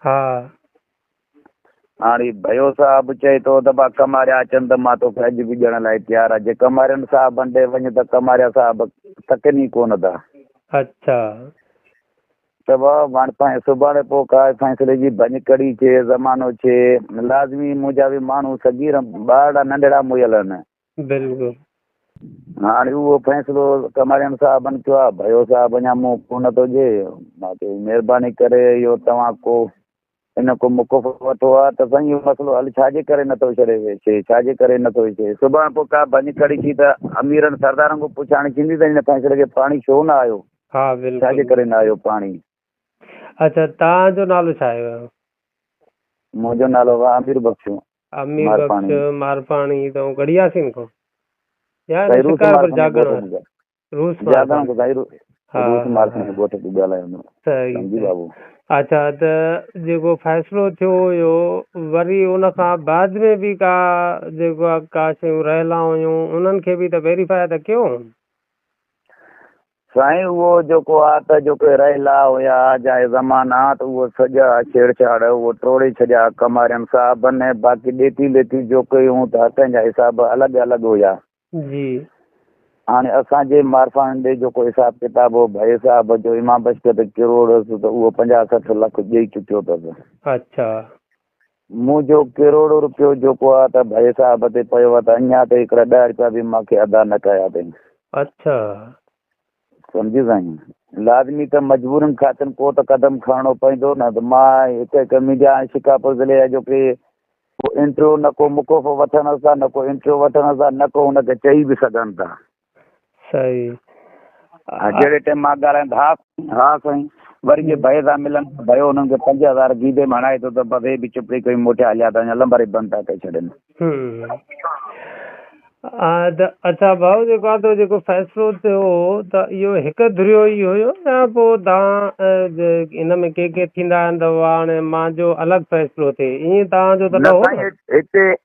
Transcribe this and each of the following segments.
ها. هاڻ هي ڀيو صاحب چئي ٿو ته ڀا ڪماريا اچن ته مان توکي اڄ به ڏيڻ لاء تيار آهيان. جي ڪمارين صاحبن ڏي وڃ ته ڪماريا صاحب تڪن ئي ڪونه ٿا. اڇا. ته ڀا هاڻ سائين سڀاڻي پوء ڪا فيصلي جي ڀڃڪڙي ڇي، زمانو ڇي. لازمي منهنجا به ماڻهو صغير ٻارڙا ننڍڙا مئل آهن. بلڪل. هاڻي اهو فيصلو ڪماريان صاحبن ڪيو آهي ڀيو صاحب اڃا مون ڪو نه ٿو جي باقي مهرباني ڪري اهو توهان ڪو ان ڪو مقف وٺو ها ته سائين اهو مسئلو حل ڇا جي ڪري نه ٿو ڇڙي ويسي ڇا جي ڪري نه ٿو ٿئي سڀان پوء ڪا ڀڃ ڪڙي ٿي ته اميرن سردارن کان پڇاڻي ٿيندي ته هن فيصلي کي پاڻي ڇو نه آيو ها بلڪل ڇا جي ڪري نه آيو پاڻي اچا توهان جو نالو ڇا آهي ويو. منهنجو نالو واه امير بخش. امير بخش مارپاڻي توهان گڙهي ياسين کان يا هن شڪارپور جاڳڻ واري روس مارپاڻي ها ها اچا ته جيڪو فيصلو ٿيو هيو وري ان کان بعد ۾ به ڪا جيڪو ڪا شيون رهيل هيون انهن کي به ته ويريفائي ته ڪيو سائين اهو جيڪو آ ته جيڪي رحلا هيا جا اهي زمانا ته اهو سڄا ڇيڙڇاڙ اهو ٽوڙي ڇڏيا ڪمارين صاحبن ۽ باقي ڏيتي ليتي جو ڪئي هون ته هتن جا حساب الڳ الڳ هيا جي هاڻي اسان جي مارفان ڏي جيڪو حساب ڪتاب هو ڀائي صاحب جو امام بشڪ ته ڪروڙ هيس ته اهو پنجاهه سٺ لک ڏئي چڪيو اٿس اڇا. مون جو ڪروڙو رپيو جوڪو آ ته ڀئي صاحب تي پيو آ ته اڃا تائين هڪڙا ڏهه رپيا به مان کي ادا نه ڪيا اٿئين. اڇا. سمجهيو سائين. لازمي ته مجبورين خاطر ڪو ته قدم کڻڻو پوندو نه ته مان هڪ هڪ ميڊيا ۽ شڪارپور ضلعي جا جو ڪي ڪو انٽرويو نه ڪو مقوفو وٺن ٿا نه ڪو انٽرويو وٺن ٿا نه ڪو ان کي چئي به سگهن ٿا. سائين آ. جهڙي ٽيم مان ڳالهايم ته ها ها سائين وري جي ڀئي سان ملن ته ڀئيو انهن کي پنج هزار گيدي ۾ هڻائي ٿو ته بس هي به چپڙي کڻي موٽيا هليا ٿا وڃن لنبر ئي بند ٿا ڪري ڇڏين. ها ته اڇا ڀائو جيڪو آ تو جيڪو فيصلو ٿيو ته اهو هڪ ڌريو ئي هيو يا پو تان ان ۾ ڪي ڪي ٿيندا آهن ته هاڻي مانجو الڳ فيصلو ٿئي ائين تان جو ته نه هو نه سائين هتي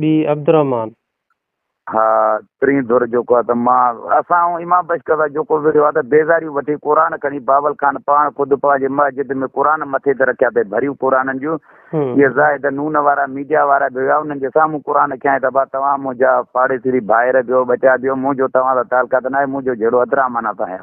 ٻي عبدالرحمان. ها پرين ڌر جيڪو آهي ته مان اسان ۽ امام بشڪر وارو جيڪو وڙهيو آهي ته بيزاريون وٺي قرآن کڻي باول خان پاڻ خود پنهنجي مسجد ۾ قرآن مٿي تي رکيا اٿئي ڀريون قرآنن جون اهي زاهد نون وارا ميڊيا وارا به هيا انهن جي سامهون قرآن کيائين ته ڀا توهان منهنجا پاڙيسري ڀائر ڀيو ٻچا ڀيو منهنجو توهان سان تعلقات ناهي منهنجو جهيڙو عبدالرحمان سان آهي.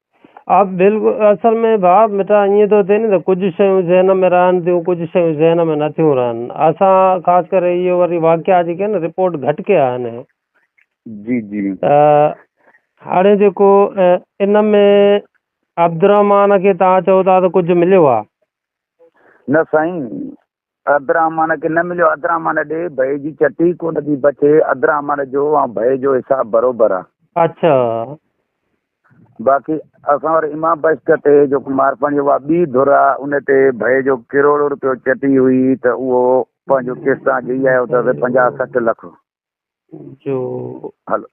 آء بلڪل اصل ۾ باب مٺا ائين ٿو ٿئي نه ته ڪجهه شيون ذهن ۾ رهن ٿيون ڪجهه شيون ذهن ۾ نه ٿيون رهن اسان خاص ڪري اهي وري واقعا جيڪي آهن رپورٽ گهٽ ڪيا آهن جي جي ته هاڻي جيڪو ان ۾ عبدالرحمان کي تان چئو ٿا ته ڪجهه مليو آهي نه سائين عبدالرحمان کي نه مليو. عبدالرحمان ڏي ڀئي جي چٽي ڪونه ٿي بچي. عبدالرحمان جو ۽ ڀئي جو حساب بروبر آ. اڇا. باقي اسان وٽ امام بشڪ تي جيڪو مارپاڻي اها ٻي ڌر آ ان تي ڀئي جو ڪروڙ روپيو چٽي هئي ته اهو پنهنجو قسط آ ڏئي آيو اٿس پنجاهه سٺ لک. جو هلو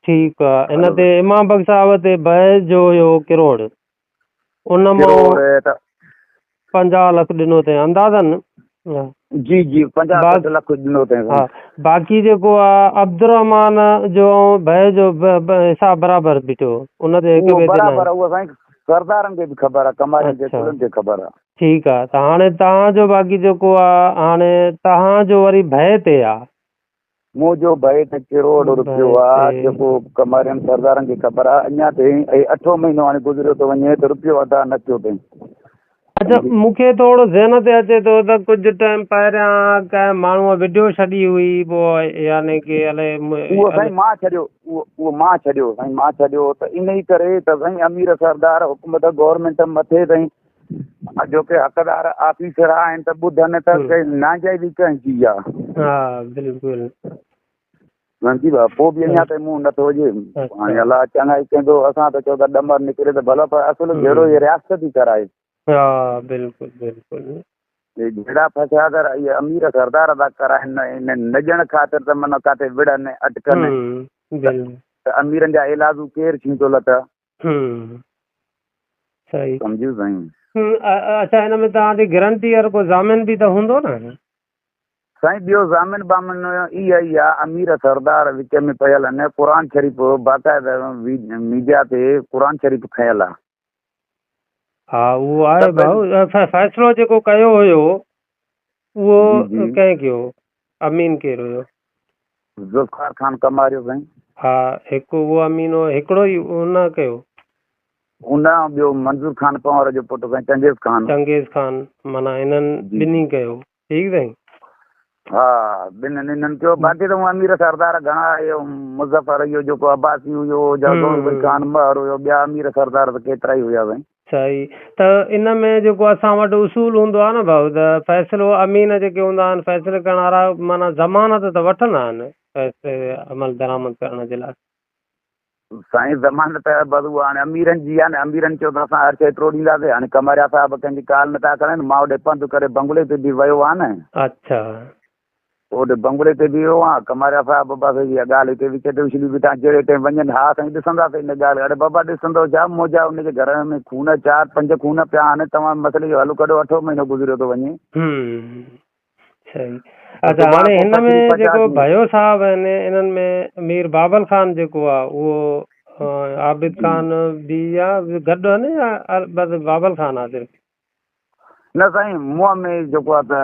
ٺيڪ آ ان هلو تي امام بخش صاحب تي بحث جو هيو ڪروڙ ان مان ڪروڙ ت- 50 لک ڏنو تي اندازن ها، جي جي 50 بس. سٺ لک ڏنو تنهن ها سان. باقي جيڪو آ عبدالرحمان جو بحث جو ب- ب- حساب برابر بيٺو ان تي هڪ اهو ٻئي تي برابر ناهي. اهو سائين سردارن کي به خبر آ ڪمارين کي اچھا. ڪلن کي خبر آ ٺيڪ آ ته هاڻي توهان جو باقي جيڪو آ هاڻي توهان جو وري بحث تي آ مون جو ڀائي ته ڪروڙ روپيو آ جيڪو ڪمارين سردارن کي خبر آ اڃا تائين اهي اٺون مهينو هاڻي گذريو ٿو وڃي ته روپيو ادا نه ٿيو تائين اچا مون کي ٿورو ذهن تي اچي ٿو ته ڪجهه ٽائيم پهريان ڪنهن ماڻهوء وڊيو ڇڏي هئي پو يعني ڪي الي اهو سائين مان ڇڏيو اهو مان ڇڏيو سائين مان ڇڏيو ته انهي ڪري ته سائين امير سردار حڪومت گورنمينٽ مٿي تائين اڄوڪي حقدار آفيسر آهن ته ٻڌن ته ناجائزي ڪنهن جي آهي ها بلڪل منهنجي بابا پوء به اڃا تائين منهن نٿو هجي هاڻي الله چڱائي ڪندو اسان ته چو ته ڏمر نڪري ته ڀلا پر اصل جهڙو هي رياست ٿي ڪرائي ها بلڪل بلڪل جهڙا فساد اهي امير سردار ادا ڪرائن نه نه ڄڻ خاطر ته من ڪاٿي وڙهن اٽڪن ته اميرن جا علاج ڪير ڇينتو لتا صحيح سمجهيو سائين. اڇا هن ۾ توهان جي گرنٽيئر ڪو ضامن به ته هوندو نه. سائين ٻيو ضامن بامن اي اي آ امير سردار وچ ۾ پيل ان قرآن شريف باقاعد ميڊيا تي قرآن شريف کنيل آ. ها اهو آهي ڀائو فيصلو جيڪو ڪيو هيو اهو ڪنهن ڪيو. امين ڪير هيو؟ ذوالفقار خان ڪماريو سائين. ها هڪ اهو امين هو هڪڙو ئي ان ڪيو. ان کان ٻيو منظور خان پنهور جو پٽ سائين چنگيز خان. چنگيز خان معنيٰ انهن ٻنهي ڪيو ٺيڪ سائين. ها ٻنهن انهن ڪيو باقي ته امير سردار گهڻا اهي مظفر اهو جيڪو عباسي هيو جهڙو خان مهر هيو ٻيا امير سردار ته ڪيترا ئي هيا سائين. صحيح ته ان ۾ جيڪو اسان وٽ اصول هوندو آهي نه ڀائو ته فيصلو امين جيڪي هوندا آهن فيصلي ڪرڻ وارا معنيٰ ضمانت ته وٺندا آهن فيصلي تي عمل درآمد ڪرڻ جي لاء. سائين ضمانت بس اها هاڻي اميرن جي آهي نه اميرن چيو ته اسان هر شيء ٽوڙينداسين هاڻي قمريا صاحب ڪنهن جي ڪال نٿا کڻن مان هوڏي پنڌ ڪري بنگلي تي به ويو هان نه. اڇا. اوڏ بنگلي تي بيهو هئان، ڪماريا صاحب بابا سائين جي اها ڳالهه هتي وچ تي اڇلي بيٺا، جهڙي ٽيم وڃن ها سائين ڏسنداسين ان ڳالهه کي، اڙي بابا ڏسندو ڇا، موجا ان جي گهر ۾ خون چار پنج خون پيا آهن، توهان مسئلي جو حل ڪڍو، اٺون مهينو گذريو ٿو وڃي. اچا هاڻي هن ۾ جيڪو ڀيو صاحب آهن انهن ۾ مير بابل خان جيڪو آ اهو عابد خان به آ گڏ آهن يا بس بابل خان آ صرف؟ نه سائين مون ۾ جيڪو آهي ته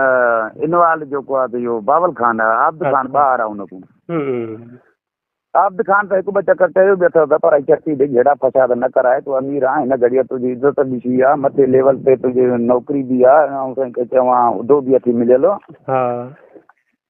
انوال جيڪو آهي ته اهو باول خان آهي عابد خان ٻاهر آهي ان کان عابد خان ته هڪ ٻه چڪر چيو بي اٿس پر اچ اچي ڏي جهيڙا فساد نه ڪرائي تو امير آهي هن گهڙيء تنهنجي عزت به ٿي آهي مٿي ليول تي تنهنجي نوڪري به آهي ۽ سائين کي چوان عهدو به اٿي مليل ها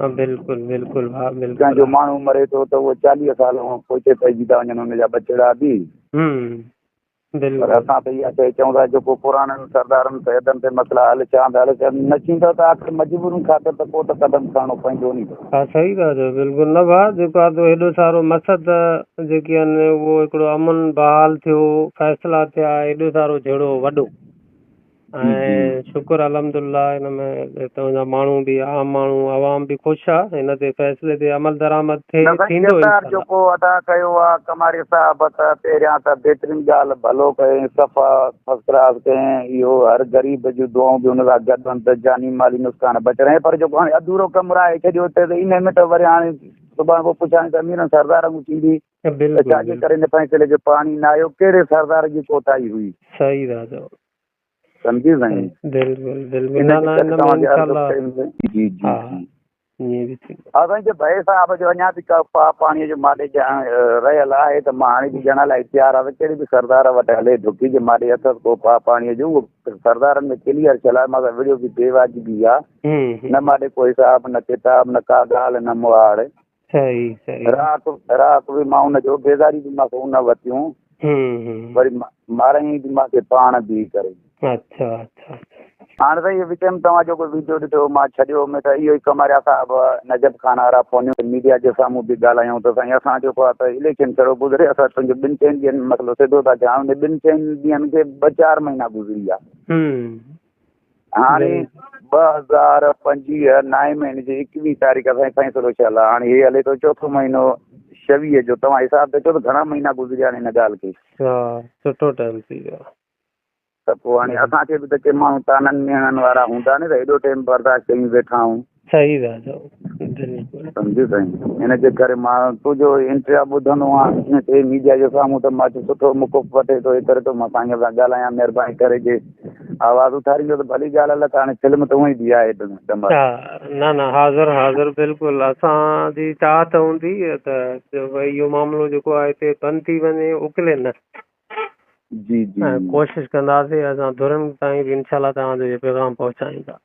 ها بلڪل بلڪل ها بلڪل جنهن جو ماڻهو مري ٿو ته اهو چاليهه سال هون پوئتي پئجي ٿا وڃن ان جا ٻچڙا به پر اسان ته اها شيء چئون ٿا جيڪو پراڻن سردارن سيدن تي مسئلا حل ٿيا هوندا حل ٿيا نه ٿيندا ته آخر مجبورين خاطر ته ڪو ته قدم کڻڻو پوندو ني ها صحيح ٿا چئو بلڪل نه ڀا جيڪو آدو هيڏو سارو مسد جيڪي ان اهو هڪڙو امن بحال ٿيو فيصلا ٿيا هيڏو سارو جهڙو وڏو ۽ شڪر الحمدالله ان ۾ اتان جا ماڻهو به عام ماڻهو عوام به خوش آ ان تي فيصلي تي عمل درآمد ٿئي ٿيندو انشاءالله جيڪو ادا ڪيو آ ڪماري صاحب ته پهريان ته بهترين ڳالهه ڀلو ڪيئين صفا فرسٽ ڪلاس ڪيئين اهو هر غريب جون دعائون به ان سان گڏ هن ته جاني مالي نقصان بچ رهي پر جيڪو هاڻي اڌورو ڪم رهائي ڇڏيو ته ان ۾ ته وري هاڻي صبح پوء پڇاڻي ته اميرن سردارن ٿيندي ته ڇا جي ڪري ان فيصلي کي پاڻي نه آيو، ڪهڙي سردار جي ڪوتاهي هئي؟ صحيح ٿا چئو. سمجهي سائين. بلڪل بلڪل نه نه ان ۾ انشاء الله جي جي ها ائين به ٿيندو. ها سائين جي ڀائي صاحب جو اڃا به ڪا پاڻي جو ماڏي ڄاڻ رهيل آهي ته مان هاڻي به ڄاڻڻ لاء تيار آهيان ته ڪهڙي به سردار وٽ هلي ڍڪي جي ماڏي اٿس ڪو پا پاڻي جو اهو سردارن ۾ ڪليئر ٿيل آهي مان وڙيو به بي واجبي آهي نه ماڏي ڪو حساب نه ڪتاب نه ڪا ڳالهه نه مهاڙ رهاڪ رهاڪ به مان ان جو بيزاري به مان کي ان وتيون وري مارئين به مان کي پاڻ بي ڪري اچھا اچھا هاڻ سائين اهو وچ ۾ توهان جو ڪو ويڊيو ڏٺو مان ڇڏيو مي ته اهو ئي ڪماريا صاحب نجب خان وارا فون ميڊيا جي سامهون به ڳالهايون ته سائين اسان جو ڪو ته اليڪشن ڇڙو گذري اسان تنهنجو ٻن چئن ڏينهن مسئلو سڌو ٿا ڪيون ٻن چئن ڏينهن کي ٻه چار مهينا گذري ويا هاڻي ٻه هزار پنجويهه نائين مهيني جي ايڪويهه تاريخ اسان فيصلو ڇا لا هاڻي هي هلي ٿو چوٿون مهينو شويهه جو توهان حساب ته چوٿ گهڻا مهينا گذريا آهن هن ڳالهه کي ها سٺو ٽائيم ٿي ويو ته پوء هاڻي اسان کي به ته ڪي ماڻهو تانن ميڻن وارا هوندا نه ته هيڏو ٽائيم برداشت ڪيون ويٺا آهون صحيح ڳالهه آهي دليل پور. سمجهيو سائين ان جي ڪري مان تنهنجو انٽريا ٻڌندو آهيان جيئن ٿئي ميڊيا جي سامهون ته مان اچي سٺو موقف وٺي ٿو اي ڪري ٿو مان سائين سان ڳالهايان مهرباني ڪري جي آواز اٿاريندو ته ڀلي ڳالهه الڪ هاڻي فلم ته اونئي بي آهي ڊم ها نه نه حاضر حاضر بلڪل اسان جي چاهت هوندي ته اهو معاملو جيڪو آهي هتي بند ٿي وڃي اڪلي نه جي جي ڪوشش ڪنداسي اسان ڌرين تائين به انشاء الله توهان جو پيغام پهچائيندا